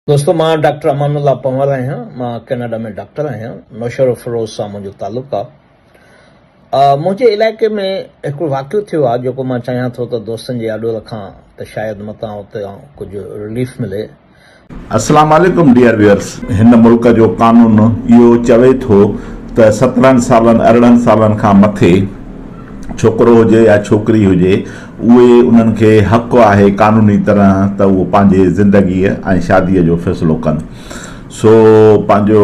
دوستو مان ڊاڪٽر امان الله پنهور آهيان مان ڪيناڊا ۾ ڊاڪٽر آهيان نوشهروفيروز سان منهنجو تعلق آ منهنجي علائقي ۾ هڪڙو واقعو ٿيو آ جيڪو مان چاهيان ٿو ته دوستن جي آڏو رکان ته شايد متان اتان ڪجهه رليف ملي السلام عليڪم ڊيئر ويئرس هن ملڪ جو قانون اهو چوي ٿو ته سترهن سالن ارڙهن سالن کان مٿي ڇوڪرو هجي يا ڇوڪري هجي اهي انهن کي حق آهي قانوني طرح ته اهو پنهنجي زندگيء ۽ شاديء جو فيصلو ڪن. سو پنهنجو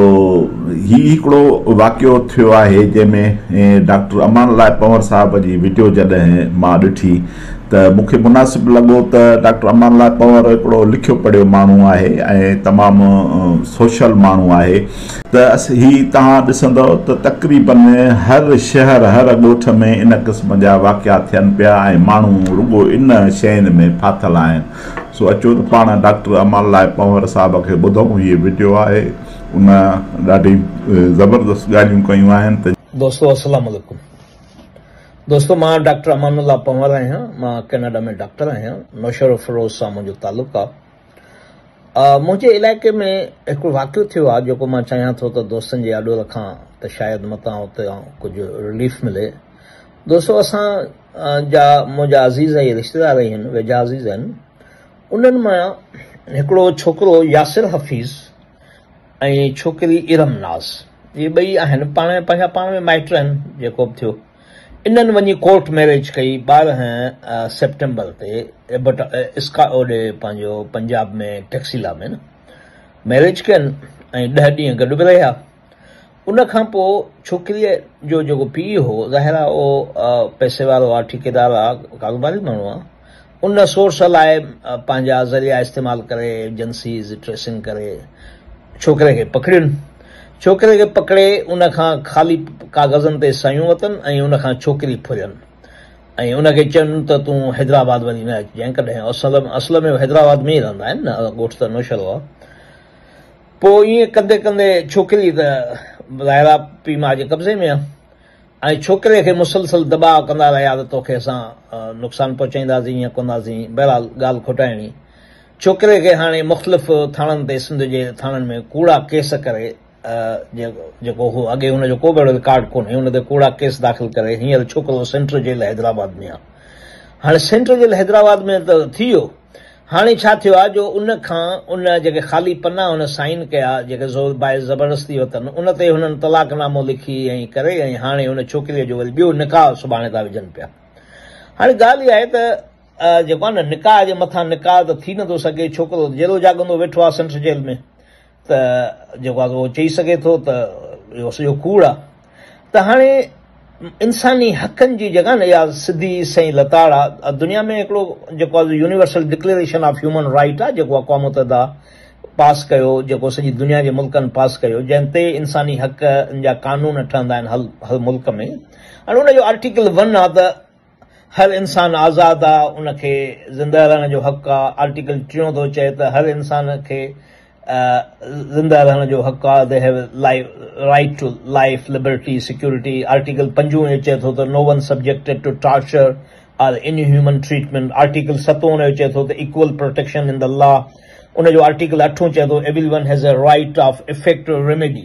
هي هڪڙو واقعو ٿيو آهي جنهن ۾ ڊاڪٽر امان الله پنور صاحب جي وڊيو جڏهن مان ڏٺي ته مون کي مناسب لڳو ته ڊاڪٽر امان الله پنور هڪڙو لکيو پڙهيو ماڻهو آهي ۽ تمام سوشل ماڻهو آهي. ته هي توهان ڏسندؤ ته تقريبن هر شهر هر ڳوٺ ۾ ان قسم جا واقعا ٿين پيا ۽ ماڻهو رڳو ان شين ۾ ڦاٿل آهن سو اچو ته پاڻ ڊاڪٽر امان الله پنهور صاحب کي ٻڌئون هيء وڊيو آهي ان ڏاڍي زبردست ڳالهيون ڪيون آهن ته دوستو السلام عليڪم دوستو مان ڊاڪٽر امان الله پنهور آهيان مان ڪينيڊا ۾ ڊاڪٽر آهيان نوشهروفروز سان منهنجو تعلق آهي منهنجي علائقي ۾ هڪڙو واقعو ٿيو آهي جيڪو مان چاهيان ٿو ته دوستن جي آڏو رکان ته شايد متان اتان ڪجهه رليف ملي دوستو اسان جا منهنجا عزيز ۽ رشتيدار آهن ويجها عزيز آهن انهن مان هڪڙو ڇوڪرو ياسر حفيظ ۽ ڇوڪري ارم ناز اهي ٻئي آهن پاڻ پنهنجا پاڻ ۾ مائٽ آهن جيڪو به ٿيو انهن وڃي ڪورٽ ميريج ڪئي ٻارهن سيپٽمبر تي ايبٽ اسڪا اوڏي پنهنجو پنجاب ۾ ٽيڪسيلا ۾ نه ميريج ڪين ۽ ڏهه ڏينهن گڏ به رهيا ان کان پوء ڇوڪريء جو جيڪو پيء هو ظاهر آ اهو پئسي وارو آ ٺيڪيدار آ ڪاروباري ماڻهو آ ان سورس لاء پنهنجا ذريعا استعمال ڪري ايجنسيز ٽريسنگ ڪري ڇوڪري کي پڪڙين. ڇوڪري کي پڪڙي ان کان خالي ڪاغذن تي سعيون وتن ۽ ان کان ڇوڪري ڦرين ۽ ان کي چين ته تون حيدرآباد وري نه اچجانء ڪڏهن اصل ۾ حيدرآباد ۾ ئي رهندا آهن نه ڳوٺ ته نوشهرو آهي. پوء ائين ڪندي ڪندي ڇوڪري ته ظاهر آهي پيء ماء جي قبضي ۾ آهي. ۽ ڇوڪري کي مسلسل دٻاء ڪندا رهيا ته توکي اسان نقصان پهچائينداسين يا ڪنداسين، بهرحال ڳالهه کوٽائڻي. ڇوڪري کي هاڻي مختلف ٿاڻن تي سنڌ جي ٿاڻن ۾ ڪوڙا ڪيس ڪري جيڪو هو اڳي هن جو ڪو به اهڙو رڪارڊ ڪونهي ان تي ڪوڙا ڪيس داخل ڪري هينئر ڇوڪرو سينٽر جيل حيدرآباد ۾ آهي. هاڻي سينٽر جيل حيدرآباد ۾ ته ٿي ويو. هاڻي ڇا ٿيو آهي جو ان کان ان جيڪي خالي پنا هن سائين ڪيا، جيڪي زور باعث زبردستي وتن، ان تي هنن طلاق نامو لکي ۽ ڪري ۽ هاڻي ان ڇوڪريء جو وري ٻيو نڪاح سڀاڻي ٿا وجهن پيا. هاڻي ڳالهه اها آهي ته جيڪو آهي نه نڪاح جي مٿان نڪاح ته ٿي نٿو سگهي، ڇوڪرو ته جيلو جاڳندو ويٺو آهي سنٽر جيل ۾. ته جيڪو آهي اهو چئي سگهي ٿو ته اهو سڄو ڪوڙ آهي ته هاڻي انساني حقن جي جيڪا نه اها سڌي سئي لتاڙ آهي دنيا ۾ هڪڙو جيڪو آهي universal declaration of human right آهي جيڪو اقوام متحده پاس ڪيو جيڪو سڄي دنيا جي ملڪن پاس ڪيو جنهن تي انساني حق جا قانون ٺهندا آهن هر ملڪ ۾ هاڻي ان جو آرٽيڪل ون آهي ته هر انسان آزاد آ ان کي زنده رهڻ جو حق آ آرٽيڪل ٽيون ٿو چئي ته هر انسان کي زنده رهڻ جو حق آ they have right to life liberty security article پنجون اهو چئي ٿو ته no one subjected to torture or any human treatment article ستون اهو چئي ٿو ته equal protection in the law ان جو آرٽيڪل اٺون چئي ٿو everyone has a right of effective remedy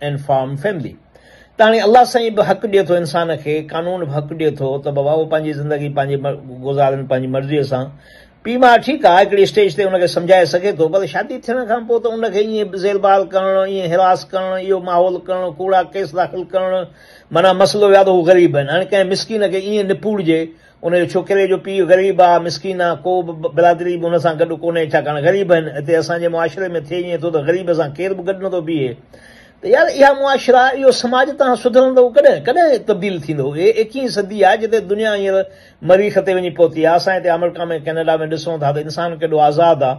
and form family ته هاڻي الله سائين به حق ڏئي ٿو انسان کي قانون به حق ڏئي ٿو ته بابا هو پنهنجي زندگي پنهنجي گذارن پنهنجي مرضيء سان پي ماء ٺيڪ آهي هڪڙي اسٽيج تي ان کي سمجهائي سگهي ٿو پر شادي ٿيڻ کان پوء ته ان کي ائين زيربار ڪرڻ ائين هراس ڪرڻ اهو ماحول ڪرڻ ڪوڙا ڪيس داخل ڪرڻ معنيٰ مسئلو يا ته هو غريب آهن هاڻي ڪنهن مسڪين کي ائين نپوڙجي ان جي ڇوڪري جو پيء غريب آ، مسڪين آ، ڪو به برادري به هن سان گڏ ڪونهي، ڇاڪاڻ غريب آهن، هتي اسان جي معاشري ۾ ٿئي ائين ٿو ته غريب سان ڪير به گڏ نٿو بيهي ته يار اها معاشرا، اهو سماج تان سڌرندو ڪڏهن؟ ڪڏهن تبديل ٿيندو؟ هي ايڪيهين صدي آ، جتي دنيا هينئر مريخ تي وڃي پهتي آ، اسان هتي آمريڪا ۾ ڪينيڊا ۾ ڏسون ٿا ته انسان ڪيڏو آزاد آ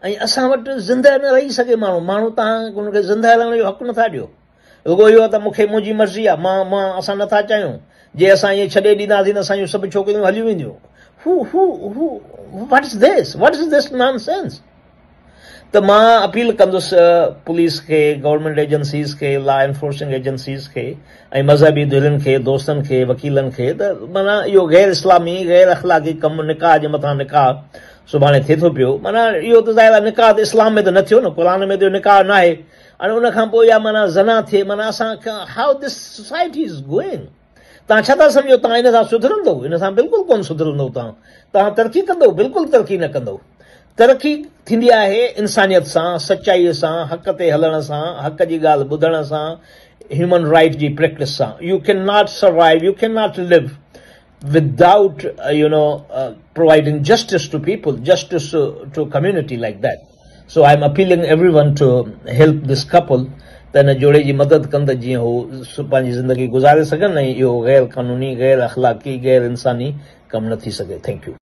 ۽ اسان وٽ زندهه نه رهي سگهي ماڻهو، ماڻهو تان ان کي زندهه رهڻ جو حق نٿا ڏيو. رڳو اهو ته مون کي منهنجي مرضي آ، مان، مان، اسان نه ٿا چاهيون. جي اسان ائين ڇڏي ڏينداسين ته اسان جون سڀ ڇوڪريون هليون وينديون. هو، هو، هو، what's this, what's this nonsense. ته مان اپيل ڪندس پوليس کي، گورنمينٽ ايجنسيز کي، لا انفورسنگ ايجنسيز کي ۽ مذهبي ڌرين کي، دوستن کي، وڪيلن کي ته معنيٰ اهو غير اسلامي، غير اخلاقي ڪم نڪاح جي مٿان نڪاح سڀاڻي ٿئي ٿو پيو، معنيٰ اهو ته ظاهر آ نڪاح ته اسلام ۾ ته نه ٿيو نه، قرآن ۾ ته اهو نڪاح ناهي. ۽ ان کان پوء يا معنيٰ زنا ٿئي معنيٰ اسان How this society is going توهان ڇا ٿا سمجهو توهان ان سان سڌرندو ان سان بلڪل ڪونه سڌرندو توهان توهان ترقي ڪندو بلڪل ترقي نه ڪندو ترقي ٿيندي آهي انسانيت سان سچائي سان حق تي هلڻ سان حق جي ڳالهه ٻڌڻ سان هيومن رائيٽ جي پريڪٽس سان you can not survive you can not live without you know providing justice to people justice to community like that so I am appealing everyone to help this couple ته هن جوڙي جي مدد ڪن ته جيئن هو پنهنجي زندگي گذاري سگهن ۽ اهو غير قانوني غير اخلاقي غير انساني ڪم نه ٿي سگهي ٿينڪ يو.